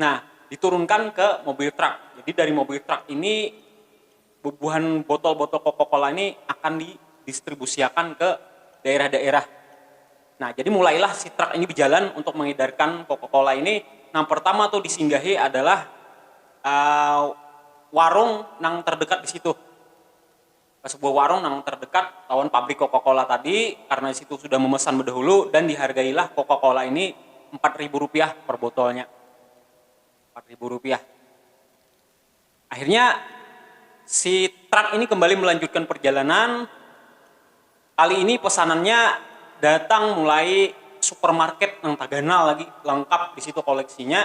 Nah, diturunkan ke mobil truk. Jadi dari mobil truk ini bubuhan botol-botol Coca-Cola ini akan didistribusiakan ke daerah-daerah. Nah, jadi mulailah si truk ini bejalan untuk mengedarkan Coca-Cola ini. Nang pertama tuh disinggahi adalah warung nang terdekat di situ. ke sebuah warung nang terdekat lawan pabrik Coca-Cola tadi karena di situ sudah memesan bedahulu dan dihargailah Coca-Cola ini empat ribu rupiah per botolnya. Empat ribu rupiah. Akhirnya si truk ini kembali melanjutkan perjalanan, kali ini pesanannya datang mulai supermarket nang taganal lagi, lengkap di situ koleksinya.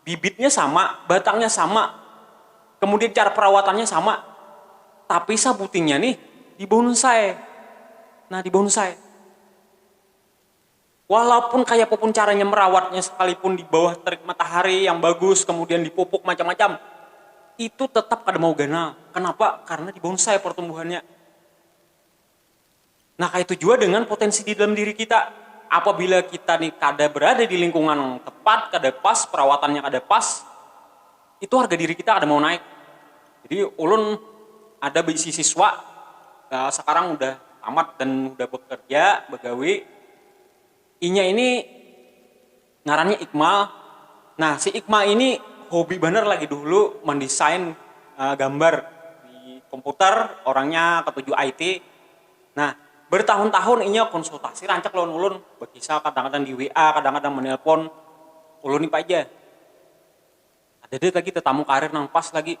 bibitnya sama, batangnya sama, kemudian cara perawatannya sama, tapi sabutingnya nih di bonsai. Nah, di bonsai. Walaupun kayak apapun caranya merawatnya sekalipun di bawah terik matahari yang bagus, kemudian di pupuk macam-macam, itu tetap kada mau ganal. Kenapa? Karena di bonsai pertumbuhannya. Nah kaitu jua dengan potensi di dalam diri kita, apabila kita ni kada berada di lingkungan nang tepat, kada pas, perawatannya kada pas, itu harga diri kita kada mau naik. Jadi ulun ada beisi siswa sekarang sudah tamat dan sudah bekerja, begawi, inya ini. Ngarannya Ikmal, nah si Ikmal ini hobi banar lagi dahulu mandesain gambar di komputer, orangnya katuju IT. Nah, bertahun-tahun inya konsultasi rancak lawan ulun, bakisah kadang-kadang di WA, kadang-kadang manelpon ulun ni paja. Kadada lagi tatamu karir nang pas lagi.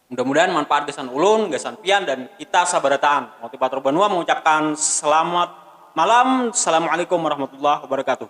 Mudah mudahan manpaat gasan ulun, gasan pian dan kita sabarataan. Motivator Banua mengucapkan selamat malam. Salamualaikum warahmatullahi wabarakatuh.